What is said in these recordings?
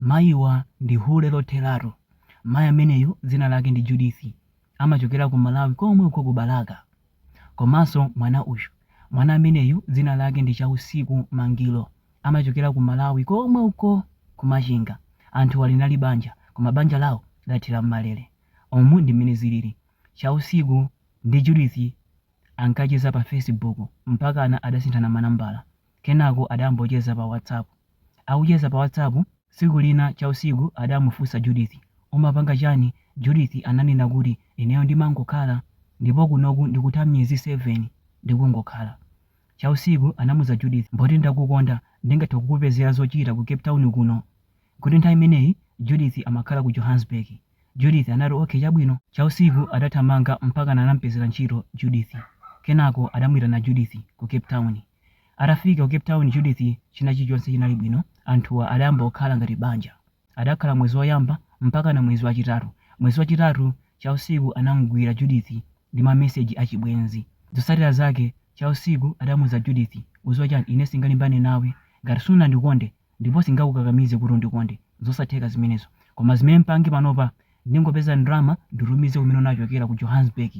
Mayiwa ndi hule lotheratu. Mayi ameneyu dzina lake ndi Judith amachokera ku Malawi komwe uko ku Balaka. Komanso mwana uyu. Mwana ameneyu dzina lake ndi Chausiku Mangilo amachokera ku Malawi komwe uko ku Machinga. Anthuwa linali banja koma banja lawo lathera m'malere. Umu ndi mmene zilili. Chausiku ndi Judith ankacheza pa Facebook mpakana adasinthana manambala. Kenako adambocheza pa WhatsApp. Akucheza pa WhatsApp, tsiku lina Chausiku adamufunsa Judith, Umapanga chani? Judith ananena kuti, Ineyo ndimangokhala, ndipo kunoku ndikutha miyezi 7 ndikungokhala. Chausiku anamuuza Judith, Poti ndakukonda, ndingathe kukupezera zochita ku Cape Town kuno. Kuti nthawi imeneyi Judith amakhala ku Johannesburg. Judith anati, Okay, chabwino. Chausiku adathamanga mpakana anamupezera ntchito Judith. Kenako adamuitana Judith ku Cape Town. Atafika ku Cape Town Judith china chilichonse chinali bwino anthuwa adayamba kukhala ngati banja. Adakhala mwezi woyamba mpakana mwezi wachitatu. Mwezi wachitatu Chausiku anamugwira Judith ndi ma message a chibwenzi. Zotsatira zake Chausiku adamuuza Judith uziwa chani ine singalimbane nawe ngati sunandikonde ndipo singakukakamize kuti undikonde zosatheka zimenezo koma zimene mpange panopa ndingopeza ndalama nditumize kumene unachokera ku Johannesburg.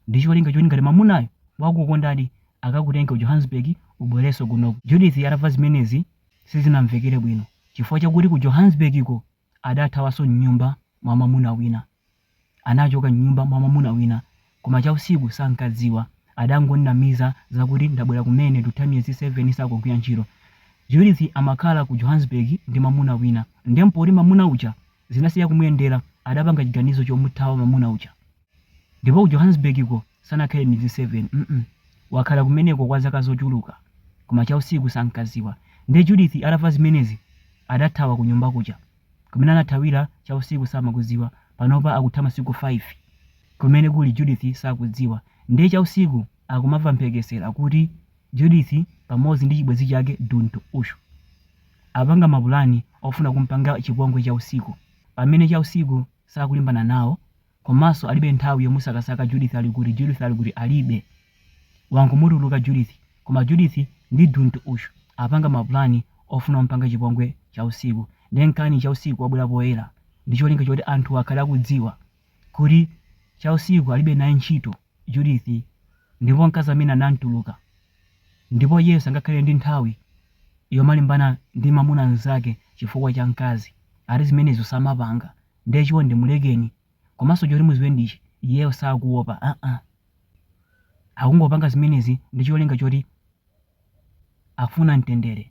ndi cholinga choti ngati mamunayo wakukondadi akakutenge ku Johannesburg ubwerenso kunoko. Judith atamva zimenezi sizinamvekere bwino chifukwa chakuti ku Johannesburg ko adathawanso m'nyumba mwa mamuna wina. Anachoka m'nyumba mwa mamuna wina koma Chausiku sankadziwa. Adangomunamiza zakuti ndabwera kumene ndutha miyezi 7 sakugwira ntchito. Judith amakhala ku Johannesburg ndi mamuna wina nde mpoti mamuna uja zinasiya kumuyendera adapanga chiganizo chomuthawa mamuna uja ndipo ku Johannesburg ko sanakhale miyezi 7 mm wakhala kumeneko kwa zaka zochuluka koma Chausiku sankaziwa nde Judith atamva zimenezi adathawa kunyumba kuja kumene anathawira Chausiku samakuziwa panopa akutha masiku 5 kumene kuli Judith sakudziwa nde Chausiku akumamva mphekesera kuti Judith pamodzi ndi chibwenzi chake Duntu Ushu apanga mapulani ofuna kumpanga chipongwe Chausiku pamene Chausiku sakulimbana nawo komanso alibe nthawi yomusakasaka Judith ali kuti Judith ali kuti alibe wangomutuluka Judith koma Judith ndi Duntu Ushu apanga mapulani ofuna kumpanga chipongwe Chausiku nde nkaani Chausiku wabwera poyera ndicholinga choti anthuwa akhale akudziwa kuti Chausiku alibe naye ntchito Judith, ndipo mkazi ameneyu anamtuluka, ndipo iyeyo sangakhale ndi nthawi yomalimbana ndi mwamuna mzake chifukwa cha mkazi, ati zimenezo samapanga, ndiye chonde mulekeni, komanso choti muziwe ndichi, iyeyo sakuopa aa, akungopanga zimenezi ndi cholinga choti afuna mtendere.